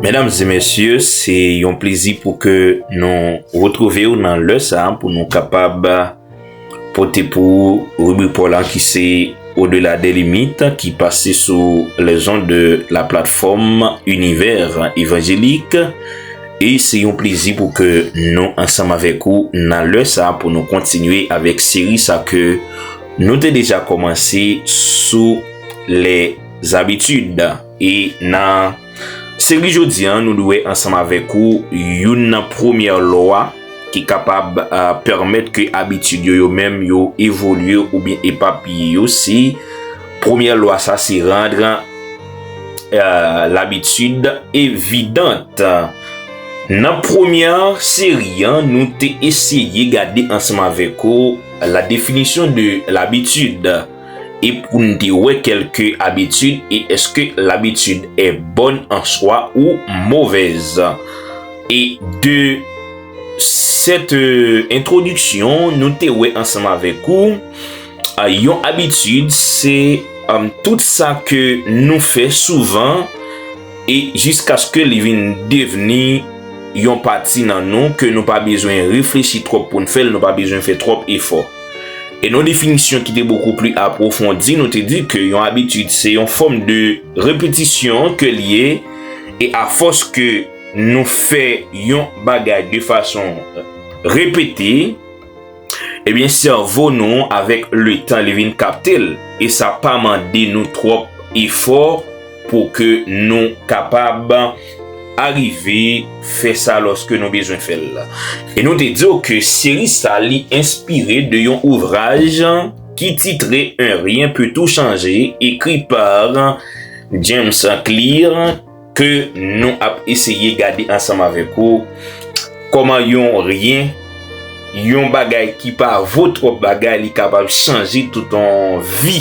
Medam e mesye, se yon plezi pou ke nou retrouve ou nan lè sa pou nou kapab pote pou ou ribrik paw la ki se Au delà des limites ki pase sou les ondes de la plateforme Univers Evangélique e se yon plezi pou ke nou ansanm avèk ou nan lè sa pou nou kontinye avèk seri sa ke nou te deja kòmanse sou les habitudes e nan Seri jodi an nou dwe ansanm avèk ou youn nan premyè lwa ki kapab pèmèt ke abitid yo yo menm yo evolye oubyen epapiye yo se premyè lwa sa se rendre l'habitude évidente. Nan premyè seri an nou te eseye gade ansanm avèk ou la definisyon de l'habitude. e pou n te wè kèlke abitid e èske labitid è bòn an swa ou movèz. E de sèt entwodiksyon nou te wè ansanm avèk ou, yon abitid se tout sa ke nou fè souvan e jiskaske li vin devni yon pati nan nou ke nou pa bezwen reflechi twòp pou n fè l, nou pa bezwen fè twòp efò. E nan definisyon ki te bokou pli apwofondi, nou te di ke yon abitid se yon fòm de repetisyon ke li ye, e a fòs ke nou fè yon bagay de fason repete, ebyen sèvo nou avèk le tan li vin kapte l, e sa pa mande nou twòp efò. Pou ke nou kapab arive fè sa lòske nou bezwen fè l. E nou te di w ke seri sa li enspire de yon ouvraj ki titre Un rien peut tout changer ekri pa James Clear ke nou ap eseye gade ansanm avèk ou kòman yon rien, yon bagay ki pa vo twòp bagay li kapab chanje tout yon vi.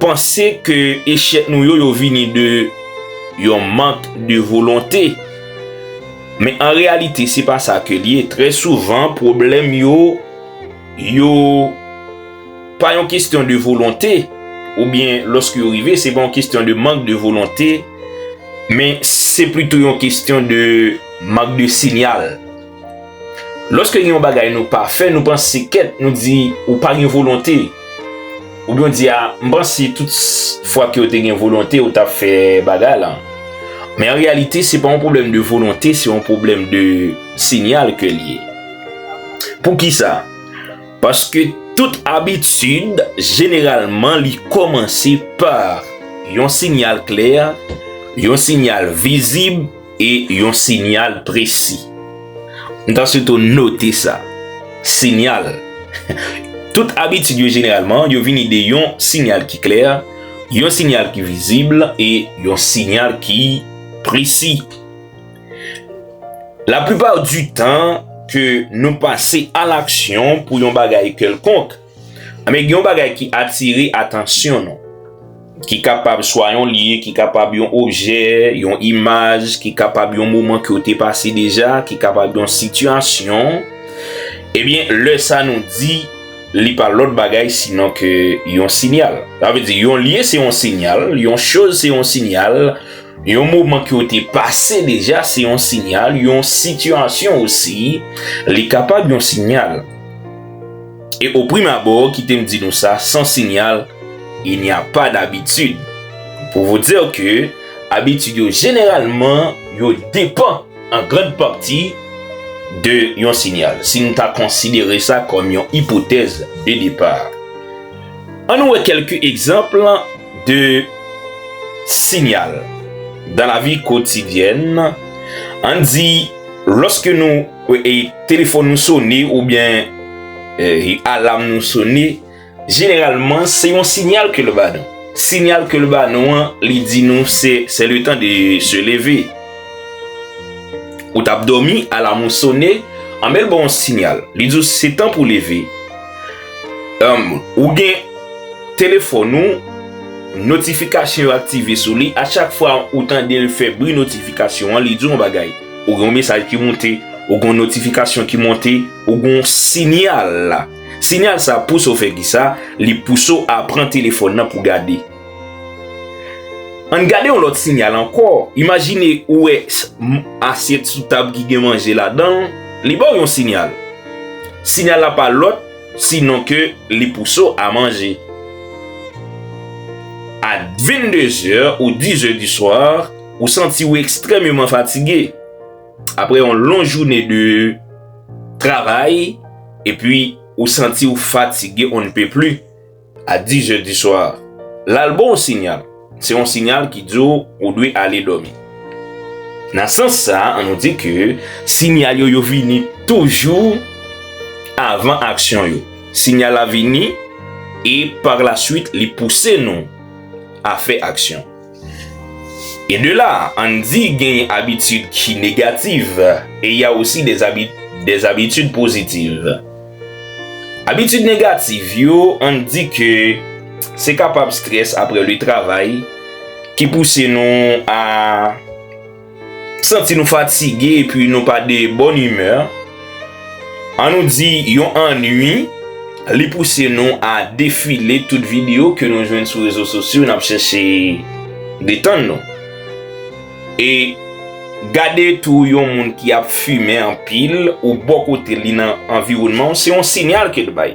Panse ke echèk nou yo yo vini de yon mank de volonte. Men an reyalite se pa sa ke li ye. Trè souvan pwoblèm yo yo pa yon kestyon de volonte ou byen loske yo rive se pa yon kestyon de mank de volonte men se plito yon kestyon de mank de sinyal. Lòske gen yon bagay nou pa fè, nou panse kèt, nou di, ou pa gen volonte. Ou byen di a, m panse tout fwa ke ou te gen volonte, ou tap fè bagay lan. Men an reyalite, se pa yon pwoblèm de volonte, se yon pwoblèm de sinyal ke li ye. Pou ki sa? Paske tout abitid, jeneralman li kòmanse pa yon sinyal klè, yon sinyal vizib, E yon sinyal presi. M ta sitou note sa. Sinyal. Tout abitid yo jeneralman, yo vini de yon sinyal ki klè, yon sinyal ki vizib, e yon sinyal ki presi. La plipa di tan ke nou pase a laksyon pou yon bagay kèlkonk, Anben, gen yon bagay ki atire atansyon nou, ki kapab swa yon lye, ki kapab yon objè, yon imaj, ki kapab yon moman ke ou te pase deja, ki kapab yon sitiyasyon. Ebyen, eh lè sa nou di, li pa lòt bagay sinon ke yon sinyal. Sa vle di, yon lye se yon sinyal, yon choz se yon sinyal, yon moman ke ou te pase deja se yon sinyal, yon sitiyasyon osi, li kapab yon sinyal. E o prim abò, kite m di nou sa, san sinyal, il n'y a pas d'habitude. Pou vou dir ke, abitid yo jeneralman, yo depan, an grand pati, de yon sinyal. Si nou ta konsidere sa kòm yon ipotèz de depar. An nou wè kèlke egzanp de sinyal, dan lavi kotidyèn, an di, Lòske nou telefòn nou sone oubyen alam nou sone, jeneralman se yon sinyal ke l ba nou. Sinyal ke l ba nou an, li di nou se se le tan de se leve. Ou tap dòmi, alam ou sone, anben l ba w yon sinyal. Li di w se tan pou leve. Ou gen telefòn ou, notifikasyon yo aktive sou li, a chak fwa ou tande l fè bri notifikasyon an, li di w yon bagay. Ou gen yon mesaj ki monte, ou gen yon notifikasyon ki monte, ou gen yon sinyal la. Sinyal sa pouse w fè ki sa, li pouse w a pran telefòn nan pou gade. An n gade yon lòt sinyal ankò, imajine ou wè asyèt sou tab ki gen manje ladan l, li ba w yon sinyal. Sinyal la pa lòt sinon ke li pouse w a manje. A 22 zè ou 10 zè di swa, ou santi w ekstrèmeman fatige. Apre yon lon joune de travay, epi ou santi w fatige on ne peut plus. A dix heures du soir, lal ba w sinyal, se yon sinyal ki di w ou dwe ale dòmi. Nan sans sa, an nou di ke sinyal yo, yo vini toujou avan aksyon yo. Sinyal la vini e par la suite li pouse nou a fè aksyon. E de la, Andy genyen abitid ki negativ e ya osi des abitid pozitiv. Abitid negativ yo, Andy ke se kapab stress apre le travay ki pouse nou a. Santi nou fatige epi nou pa de bòn imè, an nou di yon annwi, li pouse nou a defile tout videyo ke nou jwenn sou rezo sosyo nap chèche detann nou. E gade tou yon moun ki ap fimen anpil ou bò kote li nan anviwònman w se yon sinyal ke l bay.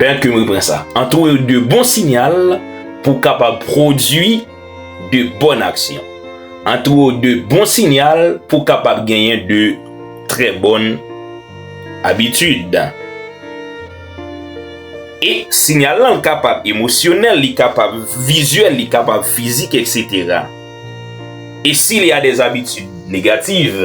Pènt ke m repran sa. Antoure yo de bon sinyal pou w kapab pwodui de bòn aksyon. Antoure yo de bon sinyal pou w kapab genyen de trè bòn abitid. E sinyal lan kapab emosyonèl, li kapab vizyèl, li kapab fizik, eksetera. E sil ya dè abitid negativ,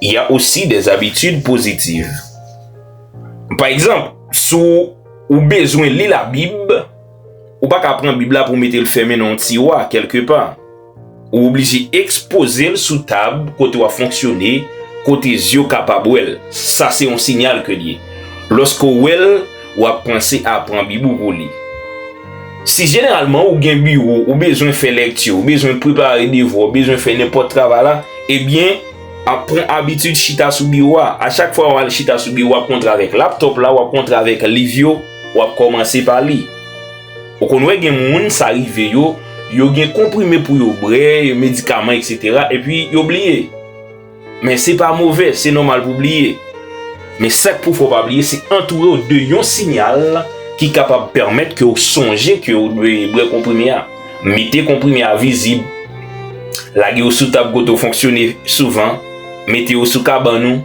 ya osi dè abitid pozitiv. Pa egzanp, si ou bezwen li Labib, ou pa ka pran Bib la pou w mete l fèmen nan yon tiwa kèlke pa. Ou oblije ekspoze l sou tab kote w ap fonksyone, kote zye w kapab wè l. Sa se yon sinyal ke l ye. Lòske w wè l, w ap panse a pran Bib ou pou w li. Si jeneralman ou gen biwo, ou bezwen fè lekti, ou bezwen prepare devwa, ou bezwen fè nenpòt travay la, ebyen, ap pran abitid chita sou biwo a. A chak fwa ou al chita sou biwo ap kontre avèk laptop la, wap kontre avèk liv yo, wap kòmanse pa li. Ou konn wè gen moun sa rive yo, yo gen konprime pou yo bre, yo medikaman etc. Epi yo bliye. Men se pa move, se nòmal pou bliye. Men sak pou fè ou pa bliye, se antoure ou de yon sinyal ki kapab pèmèt ke ou sonje ke ou dwe bre konprime a. Mete konprime a vizib. Lage yo sou tab kote w fonksyone souvan. Mete yo sou kabann ou.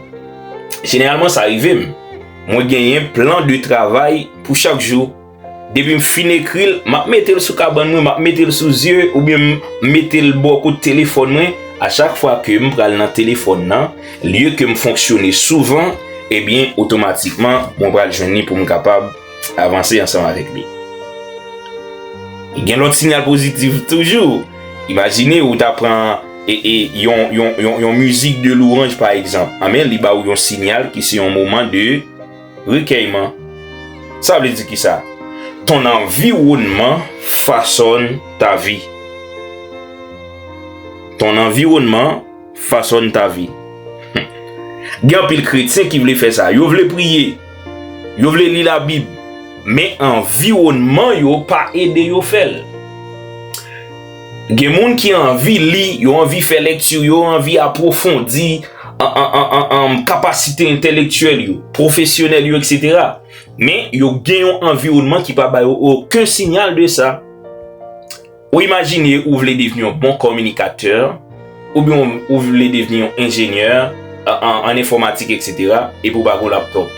Jeneralman sa rive m. Mwen genyen plan de travay pou chak jou. Depi m fin ekri l, m ap mete l sou kabann mwen, m ap mete l sou zye oubyen m mete l bò kot telefòn mwen. A chak fwa ke m pral nan telefòn nan, lye ke m fonksyone souvan, ebyen otomatikman mwen pral jwenn li pou m kapab. avanse ansanm avèk li. Gen lòt sinyal pozitif toujou. Imajine ou ta pran e, e, yon, yon, yon, yon mizik de louranj pa egzanp. Anben, li ba ou yon sinyal ki se yon moman de rekèyman. Sa vle di ki sa? Ton anviwònman fasòn ta vi. Ton anviwònman fasòn ta vi. Gen anpil kretyen ki vle fè sa. Yo vle priye. Yo vle li Labib, men anviwònman yo pa ede yo fè l. Gen moun ki anvi li, yo anvi fè lekti, yo anvi apwofondi kapasite entelektyèl yo, pwofesyonèl yo, eksetera. Men, yo gen yon anviwònman ki pa ba yo oken sinyal de sa. Ou imajine ou vle devni yon bon kominikatè, oubyen ou vle devni yon enjenyè an enfòmatik etc. Epi ou pa gen yon laptop.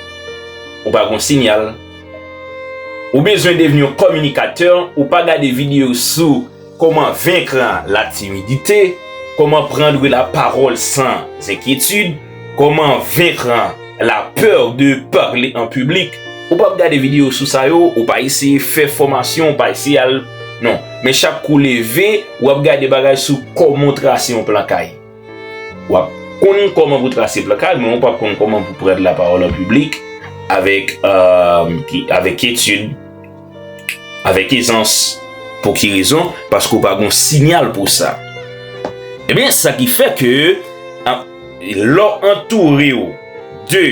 Ou pa gen yon sinyal. Ou bezwen devni yon kominikatè, ou pa gade videyo sou koman venkr la timidite, koman prendre la parole sans inquiétude. Comment vaincre la peur de parler en public Ou pap gade video sou sa yo, ou pa eseye fè fòmasyon, ou pa eseye al non. Men chak kou leve, ou ap gade bagay sou kòman trase yon plan kay. Ou ap konn kòman pou trase plan kay, men ou pap konn kòman pou prendre la parole en public avèk avèk etid. Avèk ezans. Pou ki rezon? Paske ou pa gon sinyal pou sa. Ebyen, eh sa ki fè ke lò antoure ou de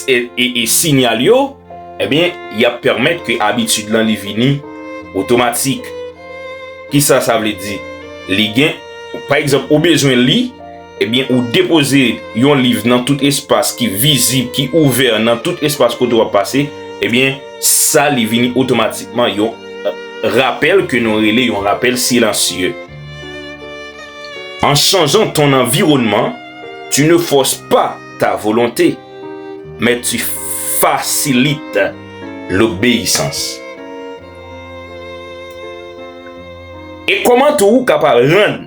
e sinyal yo, ebyen, eh y ap pèmèt ke abitid lan li vini otomatik. Ki sa sa vle di? Li gen, pa egzanp, ou bezwen li. Ebyen ou depoze yon liv nan tout espas ki vizib, ki ouvè nan tout espas kote wap pase, ebyen sa li vini otomatikman yon rapèl ke nou rele yon rapèl silansye. An chanjan ton anviwònman, tu ne force pas ta volonte, mais tu facilites l'obéissance. E kòman tou ou kapab rann.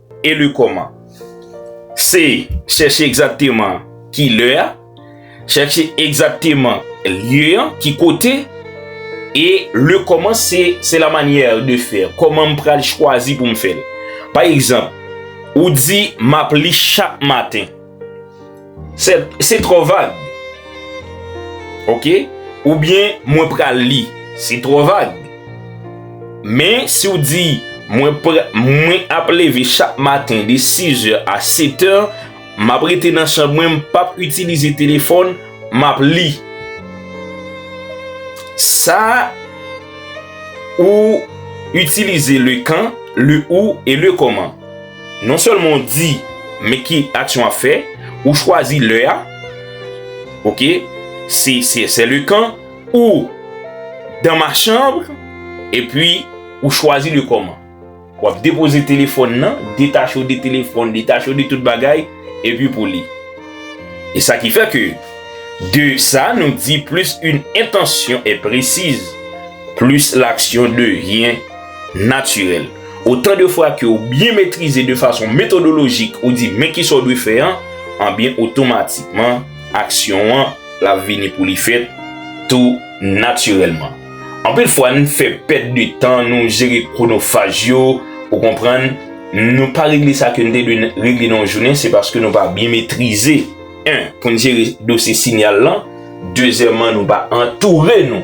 Eli kòman? Se chèche egzakteman ki lè a, chèche egzakteman lye an, ki kote, e le kòman se se la manyè de fè, kòman m pral chwazi pou m fè l. Pa egzanp, ou di m ap li chak maten. Se tro vag. Ok? Ou byen mwen pral li. Se tro vag. Men si ou di mwen ap leve chak maten de 6 è a 7 è, m ap rete nan chanm mwen, m pap itilize telefon, m ap li. Sa ou itilize le kan, le ou e le koman. Non sèlman ou di men ki aksyon w ap fè, ou chwazi lè a, ok, se sè le kan, ou dan ma chanm, epi ou chwazi le kòman. W ap depoze telefòn nan, detache w de telefòn, detache w de tout bagay, epi pou li. E sa ki fè ke, de sa nou di plis yn entansyon e presiz, Plis laksyon devyen natirèl. Otan de fwa ke ou byen metrize de fason metodolojik ou di men kisa ou dwe fè an, anbyen otomatikman aksyon an l ap vini pou li fèt tou natirèlman. Anpil fwa n fè pèt de tan, nou jere kronofaj yo, ou konprann, nou pa regle sa ke n te dwe regle nan yon jounen se paske nou pa byen metrize. 1. Pou n jere dosye sinyal lan. Dezyèman, nou va antoure nou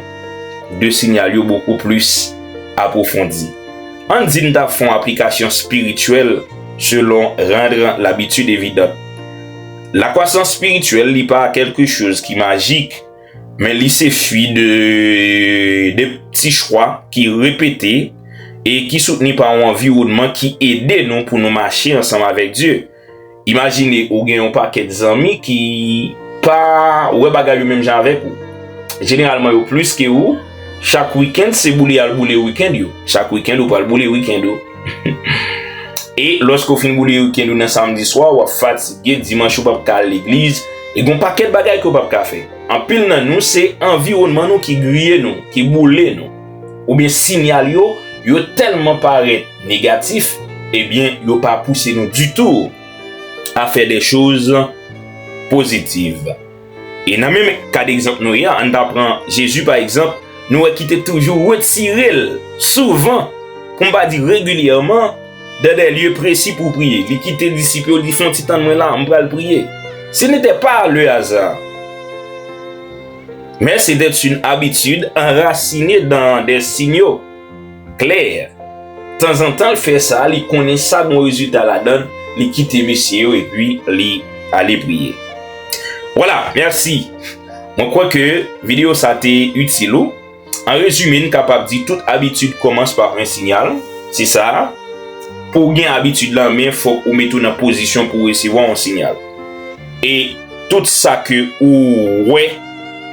de sinyal yo bokou plis apwofondi. Ann di n ta fè yon aplikasyon espirityèl selon rendre l'habitude évidente. Lakwasans espirityèl li pa kèlke choz ki majik, men li se fwi de de pti chwa ki repete e ki soutni pa yon anviwònman ki ede nou pou nou mache ansanm avèk Dye. Imajine ou gen yon pakèt zanmi ki pa wè bagay yo menm jan avèk ou. Jeneralman yo plis ke ou, chak wikend se boule y'al boule wikend yo. Chak wikend ou pral boule wikend ou. E lòske ou fin boule wikend ou nan samdi swa, w'ap fatige, dimanch ou p'ap ka al legliz, e gon pakèt bagay ke ou p'ap ka fè. Anpil nan nou se anviwònman nou ki griye nou, ki boule nou. oubyen sinyal yo, yo tèlman parèt negatif, ebyen yo pa pouse nou ditou a fè de choz pozitiv. E nan menm kad egzanp nou ye a, ann ta pran Jezi pa egzanp, nou wè ki te toujou retire l souvan, pou m pa di regilyèman, de de lye presi pou priye. Li kite disip yo, li di, Fè yon ti tann mwen la, m pral priye. Se n'était pas le hasard. Men se dèt yn abitid anrasine dan dèstin yo. Klè. Tanzantan l fè sa, li konnen sa gon rezilta ladan l, li kite mesye yo epi li ale priye. Vwala, mèsi. Mwen kwè ke videyo sa te itil ou. An rezime n kapab di tout abitid kòmanse pa pran sinyal, se sa a, pou w gen abitid lan men fòk ou mete w nan pozisyon pou w resevwa yon sinyal. E tout sa ke ou wè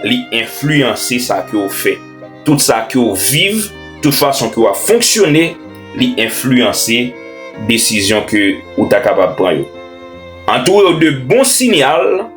li enfliyanse sa ke w fè. Tout sa ke w viv, tout fason ke w ap fonksyone li enfliyanse desizyon ke ou ta kapab pran yo. Antoure w de bon sinyal.